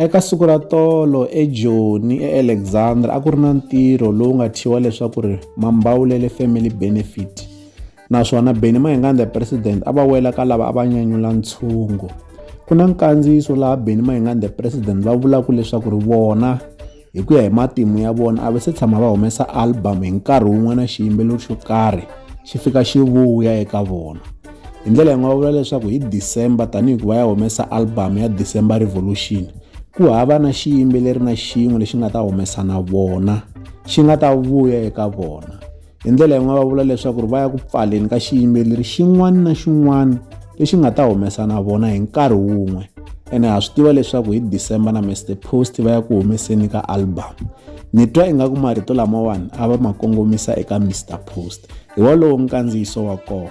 Eka siku ra tolo eJoni eAlexandra a ku ri na ntirho lowu nga thyiwa leswaku ri Mambawulele Family Benefit naswona Benny Mayengani the President a va wela ka lava a va nyanyula ntshungu. Ku na nkandziyiso laha Benny Mayengani the President va vulaka leswaku ri vona hi ku ya hi matimu ya vona a va se tshama va humesa album hi nkarhi wun'we na xiyimbeleri xo karhi xi fika xi vuya eka vona hi ndlela yi nga va vula leswaku hi december tanihi ku va ya humesa album ya december revolution ku hava na xiyimbeleri na xin'we lexi nga ta humesa na vona xi nga ta vuya eka vona hi ndlela yin'wana va vula leswaku ri va ya ku pfaleni ka xiyimbeleri xin'wana na xin'wana lexi nga ta humesa na vona hi nkarhi wun'we ene ha swi tiva leswaku hi december na mr post va ya ku humeseni ka album ni twa ingaku marito lamawani a va ma kongomisa eka mr post hi wolowo nkandziyiso wa kona